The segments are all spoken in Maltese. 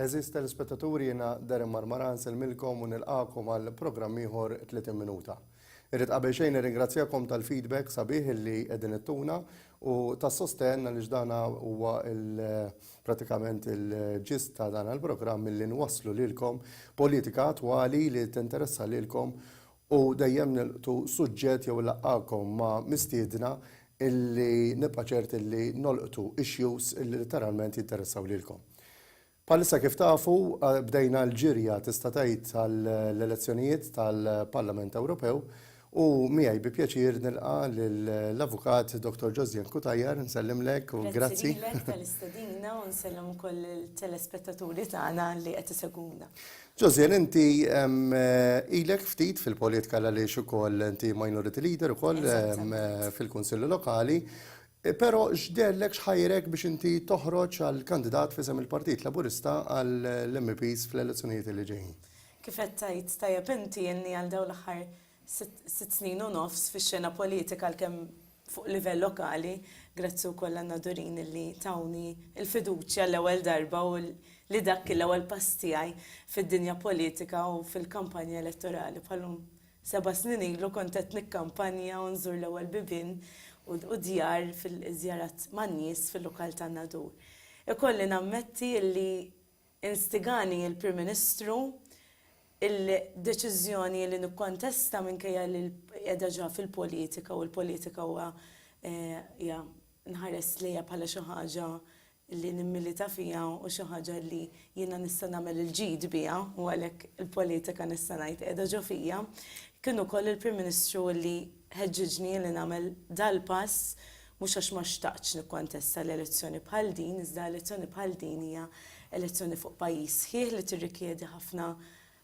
Għeżież telespettaturi jiena Darren Marmara nsellmilkom u nilqagħkom għal programm ieħor 30 minuta. Irrid qabel xejn nirringrazzjakom tal-feedback sabiħ illi qegħdin ittuna u tas-sostenn għaliex dana huwa il pratikament il-ġist ta' dan il-programm illi nwasslu lilkom politika attwali li tinteressa lilkom U dejjem nilqtu suġġett jew ilaqgħakom ma' mistiedna illi nibqa' ċert illi nolqtu issues illi litteralment jinteressaw lilkom. Bħalissa kif tafu, bdejna l-ġirja tista' tgħid għall-elezzjonijiet tal-Parlament Ewropew u miegħi bi pjaċir nilqa' lill-Avukat Dottor Josdien Cutajar, nsellimlek u grazzi. Grazzi lilek tal-istedina u nsellem ukoll il-telespettaturi tagħna li qed isegwuna. Josian, inti ilek ftit fil-politika għaliex ukoll inti minority leader ukoll fil-Kunsilli Lokali, però x'dellek x'ħajrek biex inti toħroġ għal kandidat f'isem il-Partit Laburista għall-MEPs fl-elezzjonijiet li ġejjin? Kif qed tgħid tajjeb inti, ilni għal dawn l-aħħar sitt snin u nofs fix-xena politika għalkemm fuq livell lokali, grazzi wkoll għan-Nadurin li tawni l-fiduċja l-ewwel darba u li dak kien l-ewwel pass tiegħi fid-dinja politika u fil-kampanja elettorali bħalhom seba' snin ilu kont qed nikkampanja u nżur l-ewwel bibien u djar fil-żjarat man-nies fil-lokal tan-Nadur. Ikolli nammetti li Instigani l-Prim Ministru, il-deċiżjoni li nikkontesta minkejja li qiegħda ġa fil-politika u l-politika huwa hija nħares lejha bħala xi ħaġa li nimmilita fiha u xi ħaġa li jiena nista' nagħmel il-ġid biha u għalhekk il-politika nista' ngħid qiegħda ġo fija, kien ukoll il-Prim Ministru li, Ħeġġiġni li nagħmel dal-pass, mhux għax ma xtaqtx nikkontesta l-elezzjoni bħal din, iżda elezzjoni bħal din hija elezzjoni fuq pajjiż sħiħ li tirrikjedi ħafna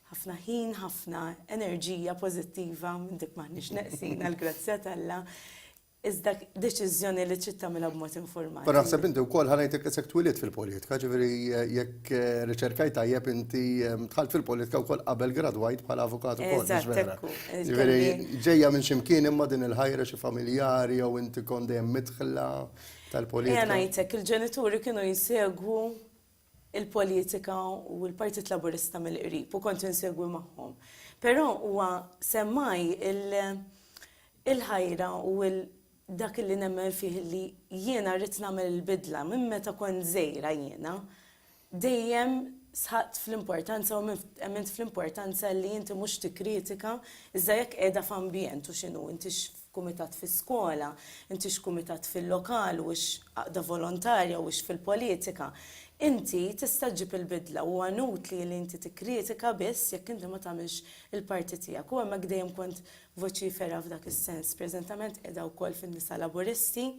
ħafna ħin, ħafna enerġija pożittiva, minn dik m'aħniex neqsin għall-grazzja t'Alla, iżda deċiżjoni li trid tagħmilha b'mod informat. Però naħseb inti wkoll ħanejtek isek twielidt fil-politika, ġifieri jekk riċerkajt tajjeb inti dħalt fil-politika wkoll qabel gradwajt bħala avukat ukoll. Eżatt hekk hu. Ġifieri ġejja minn xi mkien imma din il-ħajra xi familjari jew inti kont dejjem midħla tal-politika? Ejja ngħidlek, il-ġenituri kienu jsegwu il-politika u l-Partit Laburista mill-qrib u kont insegwi magħhom. Però huwa semmaj il-ħajra u dak li nemmen fih li jiena rrid nagħmel il-bidla minn meta kont żgħira jiena dejjem sħaqt fl-importanza u emmint fl-importanza li inti mhux tikkritika iżda jekk qiegħda f'ambjent u x'inhu inti Kumitat fis-skola, inti x'kumitat fil-lokal u x'għaqda volontarja u x'fil-politika. Inti tista' ġġib il-bidla u huwa inutli li inti tikkritika biss jekk inti ma tagħmilx il-parti tiegħek u hemmhekk dejjem kont voċifera f'dak is-sens. Preżentament qiegħda wkoll fin-Nisa Laburisti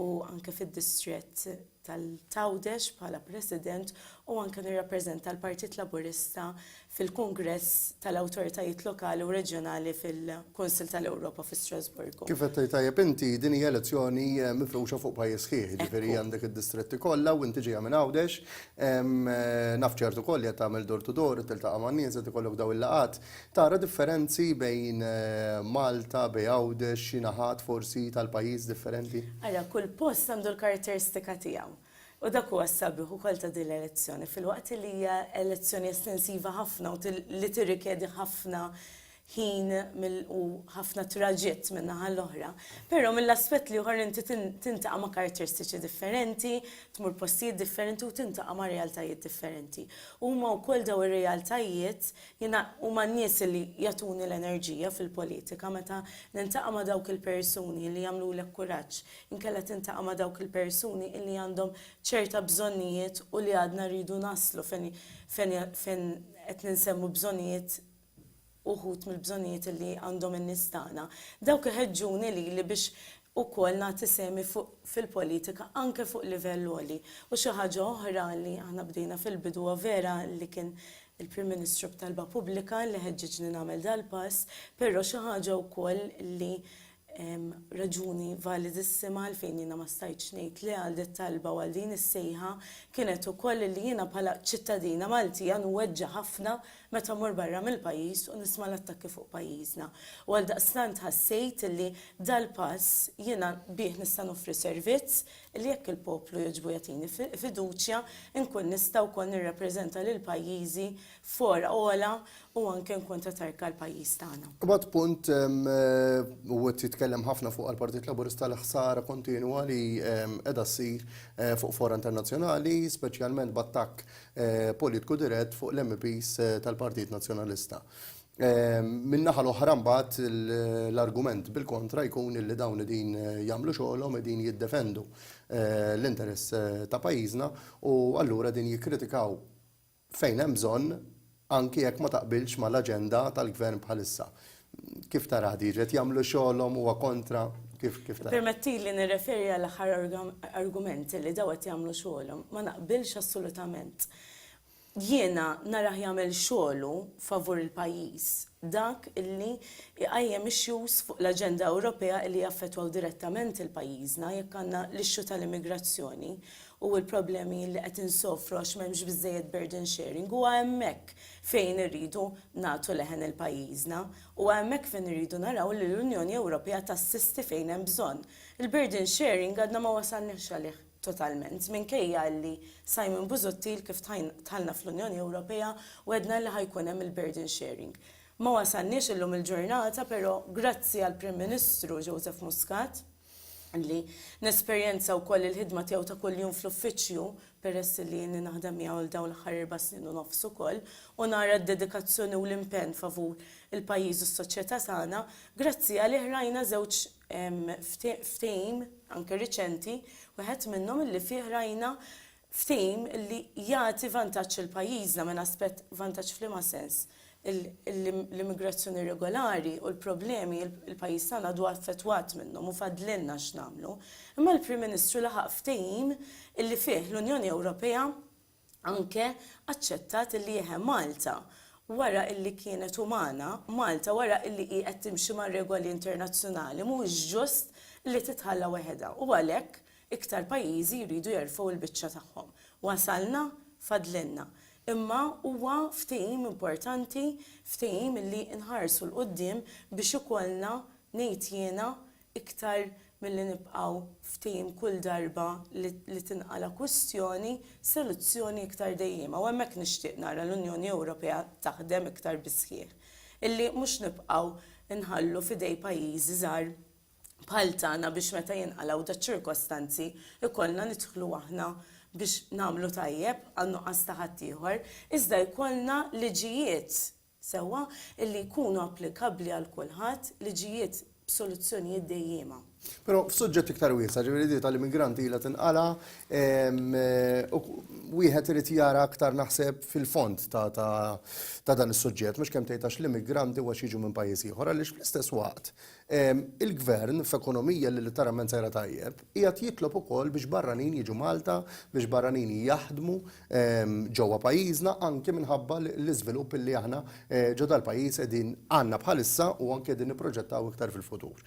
u anke fid-distrett tal-Għawdex bħala President u anke nirrappreżenta l-Partit Laburista fil-Kungress tal-Awtoritajiet Lokali u Reġjonali fil-Kunsill tal-Ewropa fi Strasburgu. Kif qed tgħid tajjeb inti, din hija elezzjoni mifruxa fuq pajjiż sħiħ, jiġifieri għandek id-distretti kollha u inti ġejja minn Għawdex. Naf ċert ukoll li qed tagħmel door to door, qed tiltaqa' man-nies, qed ikollok dawn il-laqgħat. Tara differenzi bejn Malta, bejn Għawdex, xi naħat forsi tal-pajjiż differenti? Ara, kull post għandu l-karatteristika tiegħu. U dak huwa s-sabiħ ukoll ta' din l-elezzjoni, filwaqt li hija elezzjoni estensiva ħafna u li tirrikjedi ħafna ħin u ħafna traġitt min-naħa l-oħra, però mill-aspett l-ieħor inti tintaqa' ma' karatteristiċi differenti, tmur postijiet differenti u tintaqa' ma' realtajiet differenti. Huma wkoll dawn ir-realtajiet Jiena huma n-nies li jagħtuni l-enerġija fil-politika meta niltaqa' ma' dawk il-persuni li jagħmlulek kuraġġ, inkella tintaqa' ma' dawk il-persuni li għandhom ċerta bżonnijiet u li għadna rridu naslu fejn fejn qed ninsemmu bżonnijiet uħud mill-bżonnijiet li għandhom in-nies tagħna. Dawk iħeġġuni lili biex ukoll nagħti sehmi fuq fil-politika anke fuq livell għoli. U xi ħaġa oħra li aħna bdejna fil-bidu huwa vera li kien Il-Prim Ministru b'talba pubblika li ħeġġiġni nagħmel dal-pass, però xi ħaġa wkoll li raġuni validissima għalfejn jiena ma stajtx ngħid le għal dit-talba u għal din is-sejħa kienet ukoll li jiena bħala ċittadina Maltija nweġġa' ħafna meta mmur barra mill-pajjiż u nisma' l-attakki fuq pajjiżna. U għaldaqstant ħassejt li dal-pass jiena bih nista' noffri servizz li jekk il-poplu jogħġbu jagħtini fiduċja, inkun nista' wkoll nirrappreżenta lil pajjiżi f'fora ogħla u anke nkun ta' tarka għal pajjiż tagħna. Ibgħad punt, u qed jitkellem ħafna fuqha l-Partit Laburista, l-ħsara kontinwa li qiegħda ssir fuq fora internazzjonali, speċjalment b'attakk politiku dirett fuq l-MEPs tal-Partit Nazzjonalista. Min-naħa l-oħra mbagħad l-argument bil-kontra jkun illi dawn qegħdin jagħmlu xogħolhom, qegħdin jiddefendu l-interess ta' pajjiżna u allura qegħdin jikkritikaw fejn hemm bżonn anki jekk ma taqbilx mal-aġenda tal-Gvern bħalissa. Kif taraha din? Qed jagħmlu xogħolhom, huwa kontra, kif taraha? Ippermettili nirreferi għall-aħħar argument illi dawn qed jagħmlu xogħolhom. Ma naqbilx assolutament. Jiena narah jagħmel xogħlu favur il-pajjiż, dak li jqajjem issues fuq l-aġenda Ewropea li jaffettwaw direttament lil pajjiżna jekk għandna l-issue tal-immigrazzjoni u l-problemi li qed insofru għax m'hemmx biżżejjed burden sharing huwa hemmhekk fejn irridu nagħtu leħen lil pajjiżna, huwa hemmhekk fejn irridu naraw li l-Unjoni Ewropea tassisti fejn hemm bżonn. Il-burden sharing għadna ma wasalniex għalih. totalment, minkejja illi Simon Busuttil kif dħalna fl-Unjoni Ewropea wegħdna illi ħa jkun hemm il-burden sharing. Ma wasalniex illum il-ġurnata però grazzi għall-Prim Ministru Joseph Muscat li nesperjenza wkoll il-ħidma tiegħu ta' kuljum fl-uffiċċju peress illi ilni naħdem miegħu għal dawn l-aħħar erba' snin u nofs ukoll u nara d-dedikazzjoni u l-impenn favur il-pajjiż u s-soċjetà tagħna, grazzi għalih rajna żewġ Hemm ftehim, anke riċenti, wieħed minnhom illi fih rajna ftehim illi jagħti vantaġġ lil pajjiżna minn aspett, vantaġġ f'liema sens? L-immigrazzjoni irregolari u l-problemi li l-pajjiż tagħna għadu affettwat minnhom u fadlilna x'nagħmlu. Imma l-Prim Ministru laħaq ftehim illi fih l-Unjoni Ewropea, Anke aċċettat illi eħe Malta wara illi kienet umana, Malta wara illi hi qed timxi mar-regoli internazzjonali mhuwiex ġust li titħalla weħedha u għalhekk iktar pajjiżi jridu jerfgħu l-biċċa tagħhom. Wasalna, fadlilna. Imma huwa ftehim importanti, ftehim illi nħarsu 'l quddiem biex ikollna, ngħid jiena, iktar milli nibqgħu f'tim kull darba li tinqala' kwistjoni, soluzzjoni iktar dejjiema. U hemmhekk nixtieq nara l-Unjoni Ewropea taħdem iktar bis-sħiħ. Illi mhux nibqgħu nħallu f'idej pajjiżi żgħar bħal tagħna biex meta jinqalgħu daċ-ċirkostanzi jkollna nidħlu aħna biex nagħmlu tajjeb għan-nuqqas ta' ħaddieħor, iżda jkollna liġijiet sewwa illi jkunu applikabbli għal kulħadd, liġijiet b'soluzzjonijiet dejjiema. Però f'suġġett iktar wiesa', ġifieri di tal-immigranti ilha tinqala', wieħed irid jara aktar naħseb fil-fond ta' dan is-suġġett, mhux kemm tgħid għax l-immigranti u għax jiġu minn pajjiż ieħor, għaliex fl-istess waqt Il-Gvern, f'ekonomija li litteralment sejra tajjeb, qiegħed jitlob ukoll biex barranin jiġu Malta, biex barranin jaħdmu ġewwa pajjiżna, anki minħabba l-iżvilupp li aħna ġo dal-pajjiż qegħdin għandna bħalissa u anki qegħdin nipproġettaw iktar fil-futur.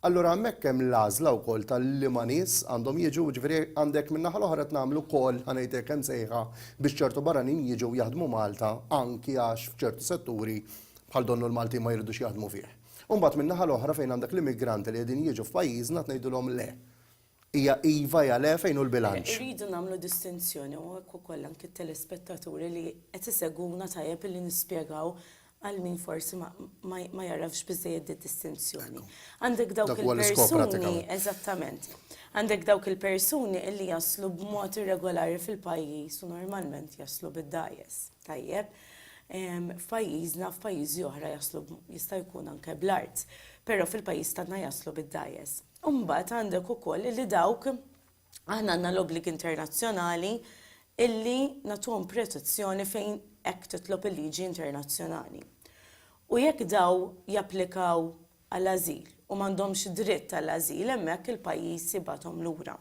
Allura hemmhekk hemm l-għażla wkoll ta' liema nies għandhom jiġu, jiġifieri għandek min-naħa l-oħra qed nagħmlu wkoll, ħa ngħid hekk, imsejħa biex ċertu barranin jiġu jaħdmu Malta anki għax f'ċertu setturi bħal donnu l-Maltin ma jridux jaħdmu fih. U mbagħad min-naħa l-oħra fejn għandek l-immigranti li qegħdin jiġu f'pajjiżna tngħidulhom le. Hija iva, hija le, fejn hu l-bilanċ? Irridu nagħmlu distinzjoni u hekk ukoll anki t-telespettaturi li qed isegwuna tajjeb li nispjegaw għal min forsi ma jagħrafx biżżejjed did-distinzjoni. Għandek dawk il-persuni, eżattament, għandek dawk il-persuni li jaslu b'mod irregolari fil-pajjiż u normalment jaslu bid-dgħajjes. Tajjeb, F'pajjiżna, f'pajjiżi oħra jaslu jista' jkun anke bl-art, però fil-pajjiż tagħna jaslu bid-dgħajjes. U mbagħad għandek ukoll illi dawk aħna għandna l-obbligi internazzjonali illi nagħtuhom protezzjoni fejn hekk titlob il-liġi internazzjonali. U jekk daw japplikaw għall-ażil u m'għandhomx dritt għall-ażil hemmhekk il-pajjiż jibgħathom lura.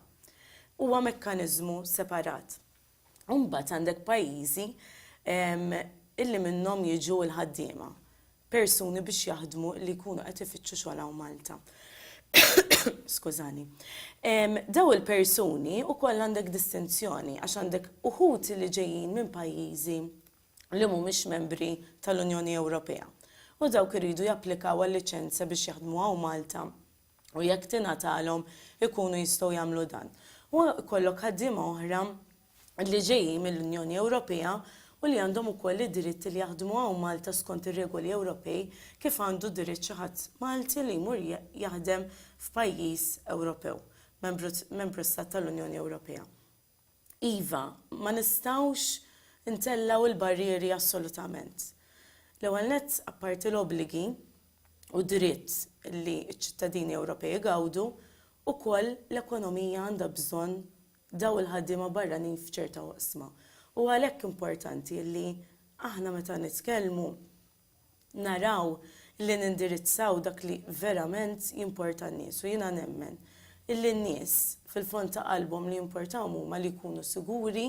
Huwa mekkaniżmu separat. u mbagħad għandek pajjiżi illi minnhom jiġu l-ħaddiema, persuni biex jaħdmu li jkunu qed ifittxu xogħol hawn Malta. Skużani. Daw il-persuni wkoll għandek distinzjoni għax għandek uħud li ġejjin minn pajjiżi li mhumiex membri tal-Unjoni Ewropea u dawk iridu japplikaw għal liċenzja biex jaħdmu hawn Malta u jekk tingħatalhom ikunu jistgħu jagħmlu dan. U jkollok ħaddiema oħra li ġejjin mill-Unjoni Ewropea u li għandhom ukoll id-dritt li jaħdmu hawn Malta skont ir-regoli Ewropej kif għandu dritt xi ħadd Malti li jmur jaħdem f'pajjiż Ewropew, Membru Stat tal-Unjoni Ewropea. Iva, ma nistgħux intellgħu l-barrieri assolutament. L-ewwel nett, apparti l-obbligi u d-dritt li ċ-ċittadini Ewropej igawdu, ukoll l-ekonomija għandha bżonn dawn il-ħaddiema barranin f'ċerta oqsma. U għalhekk importanti li aħna meta nitkellmu, naraw li nindirizzaw dak li verament jimporta n-nies u jiena nemmen illi n-nies fil-fond ta' qalbhom li jimportahom huma li jkunu siguri,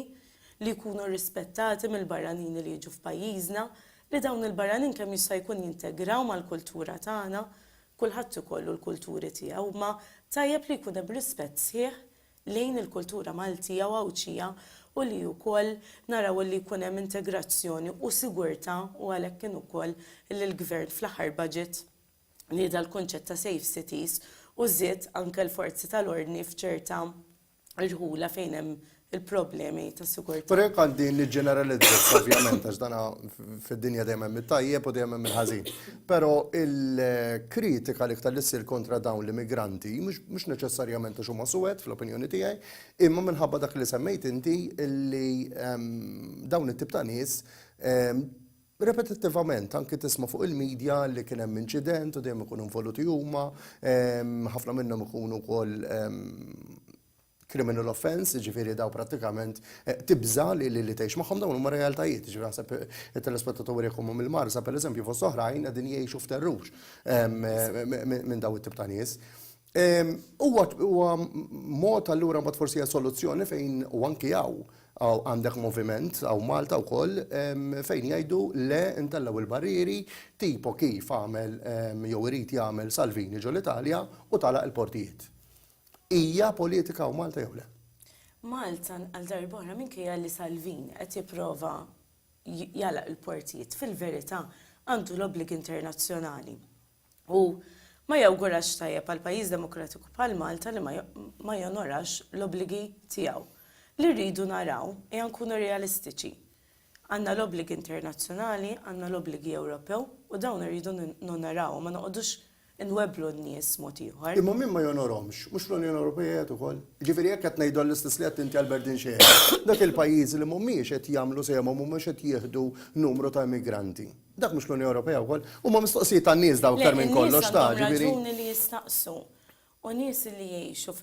li jkunu rispettati mill-barranini li jiġu f'pajjiżna, li dawn il-barranin kemm jista' jkun jintegraw mal-kultura tagħna, kulħadd ikollu l-kulturi tiegħu imma tajjeb li jkun hemm rispett sħiħ lejn il-kultura Maltija u Għawdxija u li wkoll naraw illi jkun hemm integrazzjoni u sigurtà u għalhekk kien ukoll illi l-Gvern fl-aħħar budget nieda l-kunċett ta' safe cities u żied anke l-forzi tal-ordni f'ċerta irħula fejn hemm il-problemi ta' sigurtà. Però jekk għandi niġġeneralizza, ovvjament, għax dan fid-dinja dejjem hemm it-tajjeb u dejjem hemm il-ħażin. Però il-kritika l-iktar li ssir kontra dawn l-immigranti, mhux neċessarjament għax huma suwed fl-opinjoni tiegħi, imma minħabba dak li semmejt inti li dawn it-tip ta' nies repetittivament anki tisma' fuq il-media li kien hemm inċident u dejjem ikunu involuti huma, ħafna minnhom ikunu wkoll criminal offence, jiġifieri dawn prattikament tibża' li tgħix magħhom, dawn huma realtajiet, jiġifieri naħseb it-telespettaturi jekk huma mill-Marsa pereżempju fost oħrajn qegħdin jgħixu f'terrur minn dawn it-tip ta' nies. Huwa mod allura mbagħad forsi hija soluzzjoni fejn u anki hawn għandek moviment hawn Malta wkoll fejn jgħidu le ntellgħu l-barrieri tipo kif għamel jew irid jagħmel Salvini ġol-Italja u tagħlaq il-portijiet. Hija politika u Malta jew le? Malta għal darba oħra minkejja li Salvini qed jipprova jalaq il-portijiet fil-verità għandu l-obbligi internazzjonali u ma jawgurax tajjeb għal pajjiż demokratiku bħal Malta li ma jonorax l-obbligi tiegħu. Li rridu naraw hija nkunu realistiċi. Għandna l-obbligi internazzjonali, għandna l-obbligi Ewropew u dawn irridu nonorawhom ma noqogħdux inwebblu n-nies mod ieħor. Imma min ma jonorhomx, mhux fl-Unjoni Ewropea qiegħed ukoll? Jiġifieri jekk qed ngħidu għall-istess li qed inti għal Berdin xi qiegħed, dak il-pajjiżi li mhumiex qed jagħmlu sehemhom mhumiex qed jieħdu numru ta' immigranti. Dak mhux l-Unjoni Ewropea wkoll? Huma mistoqsijiet tan-nies dawn aktar minn kollox ta' ġifieri. Le, in-nies għandhom raġuni li jistaqsu. U nies li jgħixu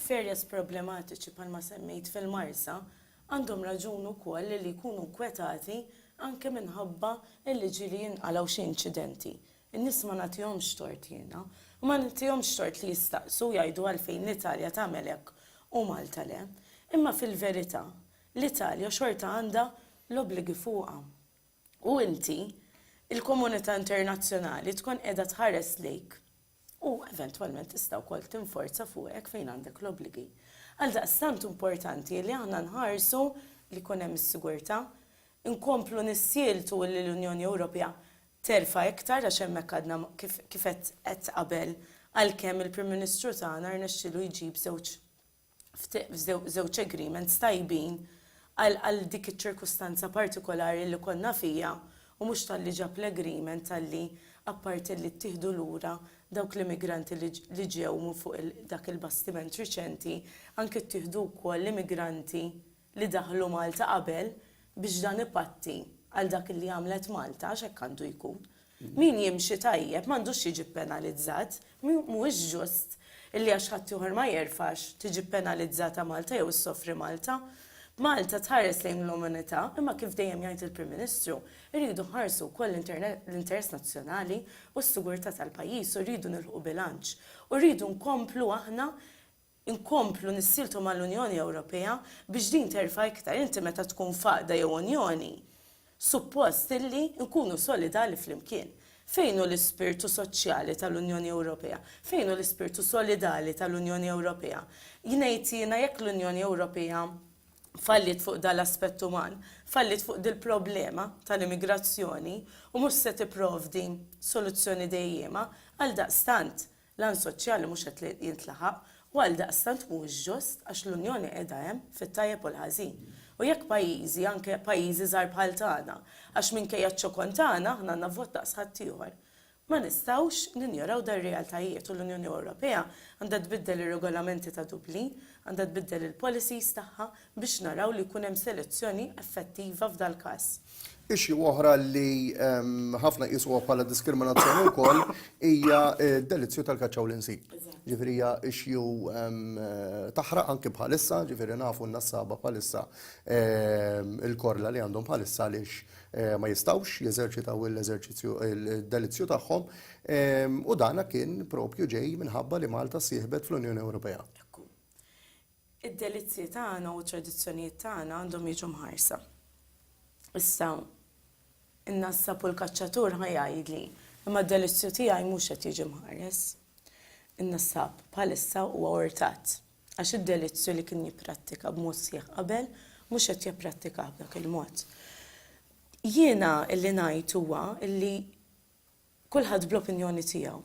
f'areas problematiċi bħalma semmejt fil-Marsa għandhom raġun ukoll li jkunu nkwetati anke minħabba l-liġi li jinqalgħu xi inċidenti. In-nies ma nagħtihomx tort jiena, u ma nagħtihomx tort li jistaqsu u jgħidu għalfejn l-Italja tagħmel hekk u Malta le. Imma fil-verità, l-Italja xorta għandha l-obbligi fuqha. U inti, il-komunità internazzjonali tkun qiegħda tħares lejk u eventwalment tista' wkoll tinforza fuqek fejn għandek l-obbligi. Għaldaqstant importanti li aħna nħarsu li jkun hemm is-sigurtà, inkomplu nissieltu li l-Unjoni Ewropea terfa' iktar għax hemmhekk għadna kif kif għedt għedt qabel għalkemm il-Prim Ministru tagħna rnexxielu jġib żewġ żewġ agreements tajbin għal għal dik iċ-ċirkustanza partikolari li konna fiha u mhux talli ġab l-agreement talli apparti li ttieħdu lura dawk l-immigranti li li ġew minn fuq dak il-bastiment riċenti anki ttieħdu wkoll l-immigranti li daħlu Malta qabel biex dan ipatti għal dak li għamlet Malta, għax hekk għandu jkun. Min jimxi tajjeb m'għandux jiġi ppenalizzat, mhuwiex ġust li għax ħadd ieħor ma jerfax tiġi ppenalizzata Malta jew issofri Malta. Malta tħares lejn l-umanità, imma kif dejjem jgħid il-Prim Ministru, irridu nħarsu wkoll l-interess nazzjonali u s-sigurtà tal-pajjiż u rridu nilħqu bilanċ. U rridu nkomplu aħna inkomplu nissieltu mal-Unjoni Ewropea biex din terfa' iktar. Inti meta tkun f'għaqda jew unjoni, suppost illi nkunu solidali flimkien. Fejn hu l-ispirtu soċjali tal-Unjoni Ewropea? Fejn hu l-ispirtu solidali tal-Unjoni Ewropea? Jngħid jiena jekk l-Unjoni Ewropea falliet fuq dan l-aspett uman, falliet fuq dil-problema tal-immigrazzjoni u mhux se tipprovdi soluzzjoni dejjiema, għaldaqstant L-għan soċjali mhux qed jintlaħaq u għaldaqstant mhuwiex ġust għax l-Unjoni qiegħda hemm fit-tajjeb u l-ħażin. U jekk pajjiżi, anke pajjiżi żgħar bħal tagħna, għax minkejja ċ-ċokon tagħna aħna għandna vot daqs ħaddieħor. Ma nistgħux ninjoraw dan realtajiet u l-Unjoni Ewropea għandha tbiddel ir-regolamenti ta' Dublin, għandha tbiddel il-policies tagħha biex naraw li jkun hemm selezzjoni effettiva f'dal-każ. Issue oħra li ħafna jqisuha bħala diskriminazzjoni wkoll hija d-delizzju tal-kaċċa u l-insi. Ġifieri hija issue taħraq anke bħalissa, ġifieri nafu n-nassaba bħalissa il-korla li għandhom bħalissa għaliex ma jistgħux jeżerċitaw l-eżerċizzju d-delizzju tagħhom u dana kien propju ġej minħabba li Malta sieħbet fl-Unjoni Ewropea. Id-delizzji tagħna u t-tradizzjonijiet tagħna għandhom jiġu mħarsa. Issa, in-nassab u l-kaċċatur ħa jgħidli, Imma d-delizzju tiegħi mhux qed jiġi mħares. In-nassab bħalissa huwa urtat, għax id-delizzju li kien jipprattika b'mod sħiħ qabel mhux qed jipprattikah b'dak il-mod. Jiena li ngħid huwa li Kulħadd bl-opinjoni tiegħu.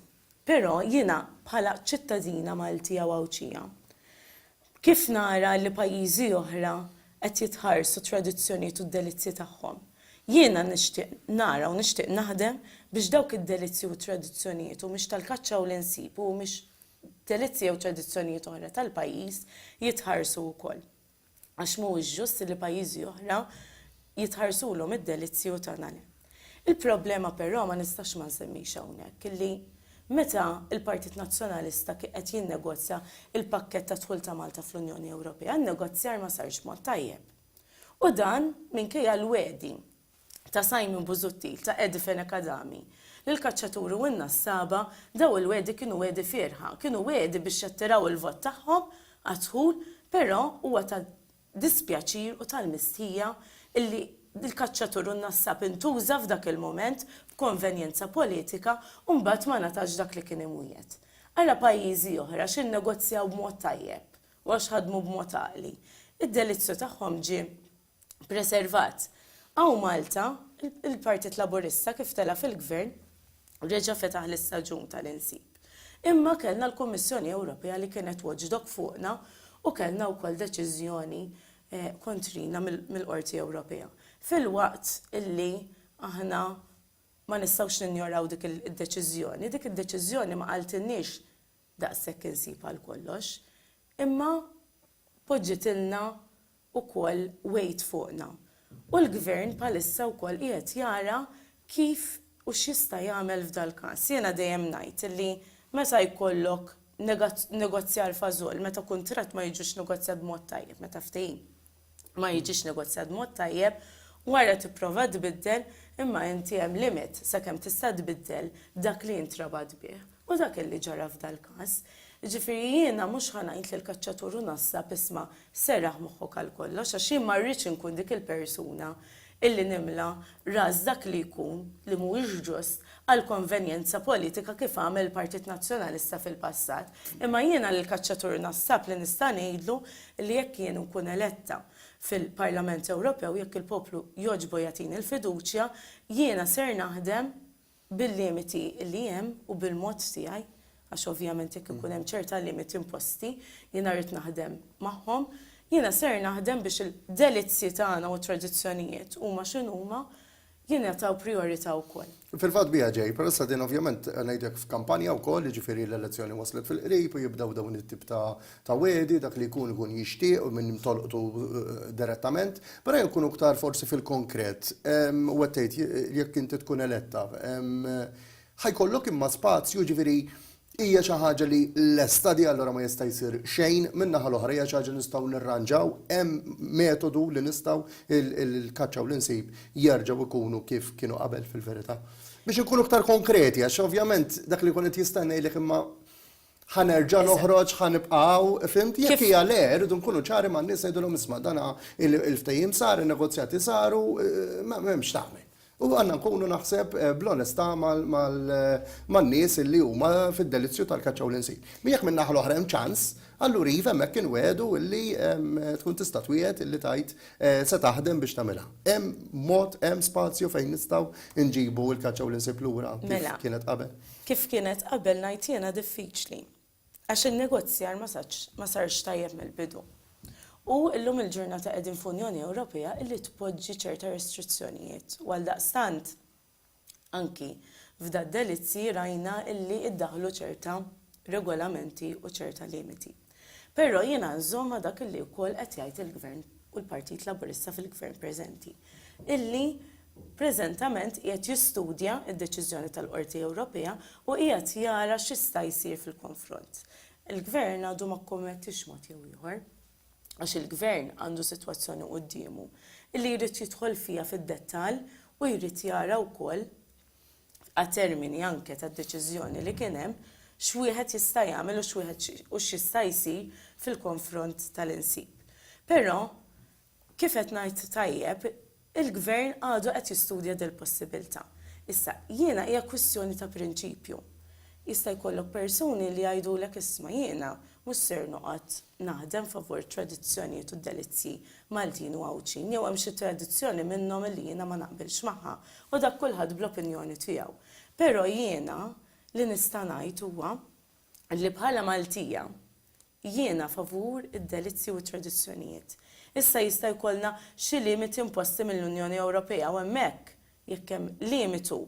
Però jiena bħala ċittadina Maltija u Għawdxija, kif nara li pajjiżi oħra qed jitħarsu t-tradizzjonijiet u d-delizzji tagħhom, jiena nixtieq nara u nixtieq naħdem biex dawk id-delizzji u t-tradizzjonijiet u mhix tal-kaċċa u l-insib u mhix delizzji jew tradizzjonijiet oħra tal-pajjiż jitħarsu wkoll. għax mhuwiex ġust li pajjiżi oħra jitħarsulhom id-delizzji u tagħna le. Il-problema però ma nistax ma nsemmix hawnhekk illi meta l-Partit Nazzjonalista kien qed jinnegozja l-pakkett tad-dħul ta' Malta fl-Unjoni Ewropea, n-negozjar ma sarx b'mod tajjeb. U dan minkejja l-wegħdi ta' Simon Busuttil, ta' Eddie Fenech Adami, lill-kaċċaturi u n-nassaba, dawn il-wegħdi kienu wegħdi fierħa, kienu wegħdi biex jattiraw il-vot tagħhom għad-dħul, però huwa ta' dispjaċir u tal-mistħija illi l-kaċċatur u n-nassab intuża f'dak il-mument b'konvenjenza politika u mbagħad ma ngħatax dak li kien imwiegħed. Ara pajjiżi oħra għax innegozjaw b'mod tajjeb u għax ħadmu b'mod għaqli, id-delizzju tagħhom ġie preservat. Hawn Malta, il-Partit Laburista kif tela' fil-Gvern, reġa' fetaħ l-istaġun tal-insib. Imma kellna l-Kummissjoni Ewropea li kienet watchdog fuqna u kellna wkoll deċiżjoni kontrina mill-Qorti Ewropea. Filwaqt illi aħna ma nistgħux ninjoraw dik id-deċiżjoni, dik id-deċiżjoni ma qaltilniex daqshekk insib għal kollox, imma poġġitilna ukoll wegħid fuqna. U l-Gvern bħalissa wkoll qiegħed jara kif u x'jista' jagħmel f'dal-każ. Jiena dejjem ngħid li meta jkollok negozjar fażoll, meta kuntratt ma jiġix negozjat b'mod tajjeb, meta ftehim ma jiġix negozjat b'mod tajjeb, wara tipprova tbiddel imma inti hemm limit sakemm tista' tbiddel dak li int rabat bih. U dak li ġara f'dal-każ. Jiġifieri jiena mhux ħa ngħid lill-kaċċatur u nassab, isma', serraħ moħħok għalkollox għax jien ma rridx inkun dik il-persuna illi nimla ras dak li jkun li mhuwiex ġust għal konvenjenza politika kif għamel il-Partit Nazzjonalista fil-passat. Imma jiena lill-kaċċatur u nassab li nista' ngħidlu li jekk jien inkun eletta fil-Parlament Ewropew, jekk il-poplu jogħġbu jagħtini l-fiduċja, jiena ser naħdem bil-limiti li hemm u bil-mod tiegħi, għax ovvjament jekk ikun hemm ċerta limiti imposti, jiena rrid naħdem magħhom, jiena ser naħdem biex il-delizzji tagħna u t-tradizzjonijiet huma x'inhuma, jingħataw prijorità wkoll. Fil-fatt biha ġej, peress din ovvjament ngħidlek f'kampanja wkoll, jiġifieri l-elezzjoni waslet fil-qrib u jibdew dawn it-tip ta' ta' wegħdi, dak li jkun ikun jixtieq u minn tolqtu direttament, però jekk ikun iktar forsi fil-konkret, u qed tgħid jekk inti tkun eletta, ħa jkollok imma spazju, jiġifieri hija xi ħaġa li lesta di allura ma jista' jsir xejn, min-naħa l-oħra hija xi ħaġa li nistgħu nirranġaw, hemm metodu li nistgħu l-kaċċa u l-insib jerġgħu jkunu kif kienu qabel fil-verità? Biex inkunu iktar konkreti għax ovvjament dak li jkun qed jistenna jgħidlek imma Ħa nerġa' noħroġ, ħa nibqa' hawn, fimt? Jekk hija le, rridu nkunu ċari man-nies ngħidulhom isma' dan il-ftehim sar, in-negozjati saru, m'hemmx x'tagħmel. U għandna nkunu naħseb bl-onestà man-nies li huma fid-delizzju tal-kaċċa u l-insin. Jekk min-naħa l-oħra hemm ċans, allura iva hemmhekk inwiegħdu li tkun tista' twiegħed li tgħid se taħdem biex tagħmilha. Hemm mod, hemm spazju fejn nistgħu nġibu l-kaċċa u l-insib lura kif kienet qabel? Kif kienet qabel ngħid jiena diffiċli għax in-negozjar ma satx ma sarx tajjeb mill-bidu. U llum il-ġurnata qegħdin f'Unjoni Ewropea illi tpoġġi ċerta restrizzjonijiet u għaldaqstant anki f'da' delizji rajna illi iddaħħlu ċerta regolamenti u ċerta limiti. Però jiena nżomm ma' dak li wkoll qed jgħid il-Gvern u l-Partit Laburista fil-Gvern preżenti, illi preżentament qiegħed jistudja d-deċiżjoni tal-Qorti Ewropea u qiegħed jara x'jista' jsir fil-konfront. Il-Gvern għadu ma kkommettiex mod jew ieħor, għax il-Gvern għandu sitwazzjoni quddiemu illi jrid jidħol fiha fid-dettall u jrid jara wkoll, għat-termini anke tad-deċiżjoni li kien hemm, x'wieħed jista' jagħmel u x'wieħed u x'jista' jsir fil-konfront tal-insib. Però, kif qed ngħid tajjeb, il-Gvern għadu qed jistudja dil-possibilità. Issa, jiena hija kwistjoni ta' prinċipju. Jista' jkollok persuni li jgħidulek isma' jiena mhux ser noqgħod naħdem favur it-tradizzjonijiet u d-delizzji Maltin u Għawdxin jew hemm xi tradizzjoni minnhom illi jiena ma naqbilx magħha u dak kulħadd bl-opinjoni tiegħu. Però jiena li nista' ngħid huwa illi bħala Maltija jiena favur id-delizzji u t-tradizzjonijiet. Issa jista' jkollna xi limiti imposti mill-Unjoni Ewropea u hemmhekk jekk hemm limitu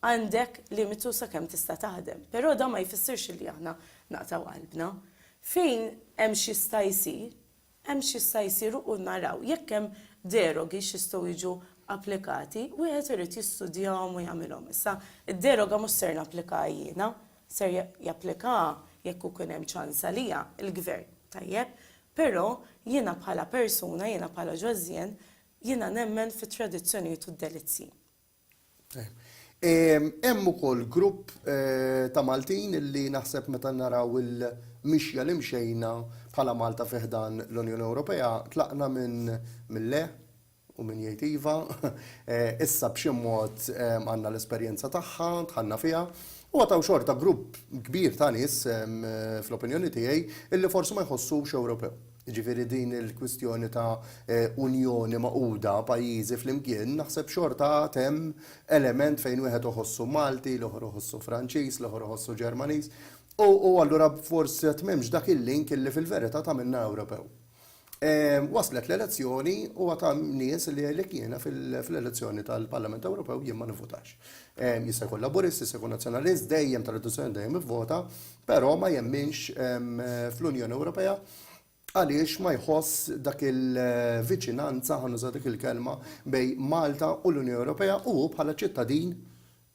għandek limitu sakemm tista' taħdem. Però dan ma jfissirx illi aħna naqtgħu qalbna. Fejn hemm x'jista' jsir, hemm x'jista' jsir u naraw jekk hemm derogi x'jistgħu jiġu applikati, wieħed irid jistudjahom u jagħmilhom. Issa, id-deroga mhux ser napplikaha jiena, ser japplikaha, jekk ikun hemm ċans għaliha, il-Gvern, tajjeb? Però jiena bħala persuna, jiena bħala Josien, jiena nemmen fit-tradizzjonijiet u d-delizzji. Hemm ukoll grupp ta' Maltin li naħseb meta naraw il-mixja li mxejna bħala Malta fi ħdan l-Unjoni Ewropea, tlaqna minn le u min jgħid iva, issa b'xi mod għandna l-esperjenza tagħha, dħalna fiha, u għad hawn xorta grupp kbir ta' nies, fl-opinjoni tiegħi, li forsi ma jħossux Ewropew. Jiġifieri din il-kwistjoni ta' Unjoni magħquda, pajjiżi flimkien, naħseb xorta għad hemm element fejn wieħed iħossu Malti, l-ieħor iħossu Franċiż, l-ieħor iħossu Ġermaniż. U allura forsi għad m'hemmx dak il-link illi fil-verità tagħmilna Ewropew. Waslet l-elezzjoni u għad hemm nies li jgħidlek jiena fl-elezzjoni tal-Parlament Ewropew jien ma nivvutax. Jista' jkun Laburist, jista' jkun Nazzjonalist, dejjem tradizzjonalment dejjem ivvota. Però ma jemminx fl-Unjoni Ewropea għaliex ma jħoss dak il-viċinanza, ħa nuża dik il-kelma, bejn Malta u l-Unjoni Ewropea u hu bħala ċittadin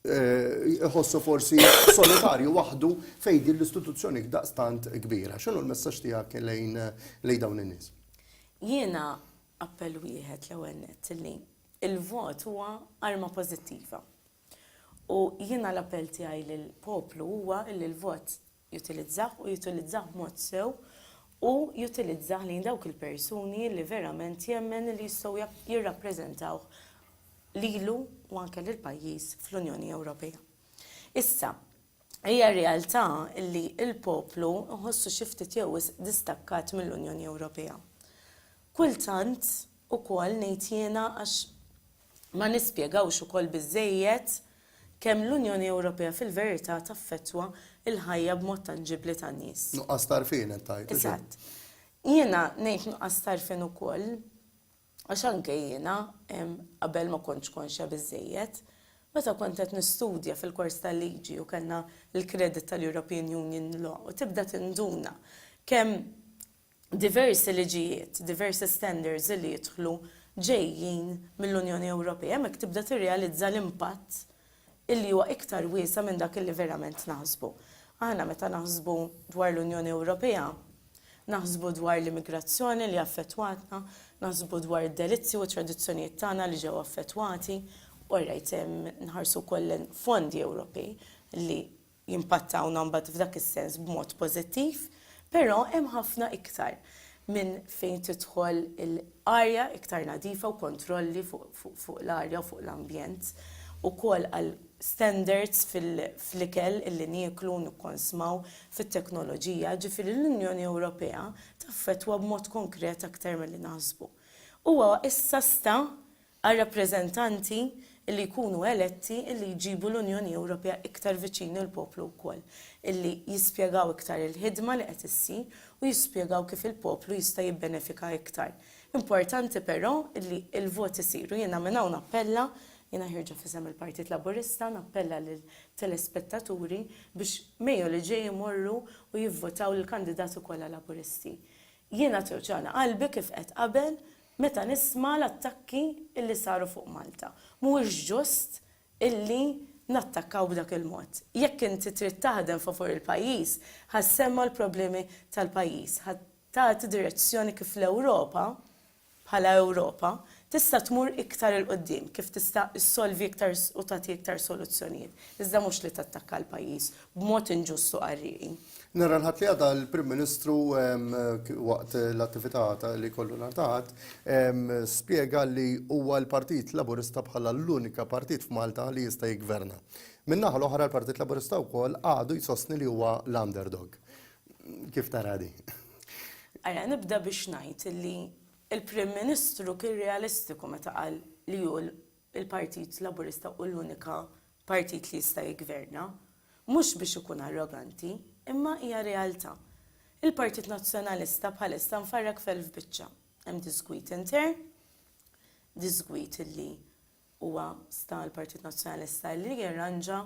iħossu forsi solitarju waħdu fejn din l-istituzzjoni daqstant kbira. X'inhu l-messaġġ tiegħek lejn dawn in-nies? Jiena appell wieħed l-ewwel nett li l-vot huwa arma pożittiva. U jiena l-appell tiegħi lill-poplu huwa li l-vot jutilizzah u jutilizzah b'mod sew u jutilizzah lejn dawk il-persuni li verament jemmen li jistgħu jirrappreżentawh lilu u anke lill-pajjiż fl-Unjoni Ewropea. Issa, hija realtà li l-poplu nħossu xi ftit jew wisq distakkat mill-Unjoni Ewropea. Kultant ukoll ngħid jiena għax Ma nispjegawx ukoll biżżejjed kemm l-Unjoni Ewropea fil-verità taffettwa l-ħajja b'mod tanġibbli tan-nies. Nuqqas t'għarfien qed tgħid, hux hekk? Eżatt. Jiena ngħid nuqqas t'għarfien ukoll għax anke jiena qabel ma kontx konxja biżżejjed. Meta kont qed nistudja fil-kors tal-liġi u kellna l-credit tal-European Union Law u tibda tinduna kemm diversi liġijiet, diversi standards li jidħlu ġejjin mill-Unjoni Ewropea, hemmhekk tibda tirrealizza l-impatt illi huwa iktar wiesa' minn dak illi verament naħsbu. Aħna meta naħsbu dwar l-Unjoni Ewropea, naħsbu dwar l-immigrazzjoni li affettwatna, naħsbu dwar id-delizzji u t-tradizzjonijiet tagħna li ġew affettwati, all right, nħarsu wkoll lejn fondi Ewropej li, jimpattawna mbagħad f'dak is-sens b'mod pożittiv, però hemm ħafna iktar minn fejn tidħol l-arja iktar nadifa u kontrolli fuq l-arja u fuq l-ambjent ukoll għal standards fl-ikel li nieklu u nikkonsmaw, fit-teknoloġija, ġifieri l-Unjoni Ewropea taffettwa b'mod konkret aktar milli naħsbu. Huwa issa sta għar-rappreżentanti li jkunu eletti li jġibu l-Unjoni Ewropea iktar viċin il-poplu wkoll, li jispjegaw iktar il-ħidma li qed issir u jispjegaw kif il-poplu jista' jibbenefika iktar. Importanti però li l-voti isiru. Jiena minn hawn nappella, jiena ħierġa f'isem il-Partit Laburista, nappella lit-telespettaturi biex Mejju li ġej imorru u jivvotaw lill-kandidati kollha Laburisti. Jiena tewġagħni qalbi kif għedt qabel Meta nisma' l-attakki illi saru fuq Malta, mhuwiex ġust illi nattakkaw b'dak il-mod. Jekk inti trid taħdem favur il-pajjiż, ħa ssemma' l-problemi tal-pajjiż, ħa tagħti direzzjoni kif l-Ewropa, bħala Ewropa, tista' tmur iktar 'il quddiem, kif tista' ssolvi iktar u tagħti iktar soluzzjonijiet, iżda mhux li tattakka l-pajjiż b'mod inġust u qarrieqi. Nhar il-Ħadd li għadda l-Prim Ministru waqt l-attività li jkollu nhar ta' Ħadd spjega li huwa l-Partit Laburista bħala l-unika partit f'Malta li jista' jiggverna. Min-naħa l-oħra l-Partit Laburista wkoll għadu jsostni li huwa l-underdog. Kif tara di? Ara, nibda biex ngħid li l-Prim Ministru kien realistiku meta qal li hu il-Partit Laburista hu l-unika partit li jista' jiggverna, mhux biex ikun arroganti, imma hija realtà. Il-Partit Nazzjonalista bħalissa mfarrak f'elf biċċa. Hemm diżgwid intern, diżgwid li huwa sta għall-Partit Nazzjonalista li jirranġa,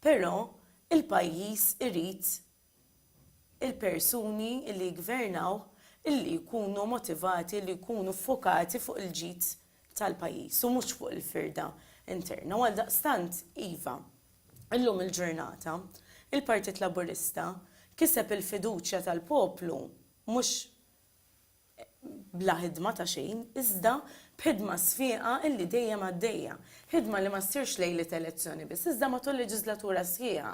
però il-pajjiż irid il-persuni li jiggvernaw li jkunu motivati li jkunu ffokati fuq il-ġid tal-pajjiż u mhux fuq il-firda interna u għaldaqstant iva, illum il-ġurnata, il-Partit Laburista kiseb il-fiduċja tal-poplu mhux bla ħidma ta' xejn, iżda b'ħidma sfieqa illi dejjem għaddejja. Ħidma li ma ssirx lejliet elezzjoni biss, iżda matul leġiżlatura sħiħa.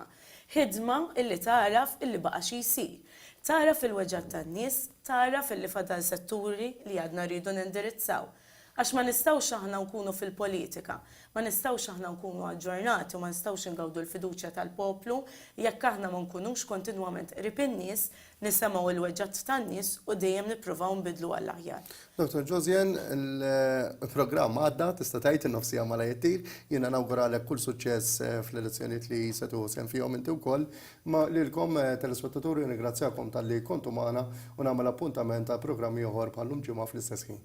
Ħidma illi tagħraf illi baqa' xi jsir. Tagħraf il-weġgħat tan-nies, tagħraf illi fadal setturi li għadna rridu nindirizzaw. Għax ma nistgħux aħna nkunu fil-politika, ma nistgħux aħna nkunu aġġornati u ma nistgħux ingawdu l-fiduċja tal-poplu jekk aħna ma nkunux kontinwament qrib in-nies, nisemgħu l-weġgħat tan-nies u dejjem nippruvaw nbiddlu għall-aħjar. Dottor Josian, il-programm għadda, tista' tgħid in-nofsija malaj ittir. Jiena nawguralek kull suċċess fl-elezzjonijiet li se tieħu sehem fihom inti wkoll. Imma lilkom telespettaturi nirringrazzjakom talli kontu magħna u nagħmel appuntament għal programm ieħor bħal-lum Ġimgħa fl-istess ħin.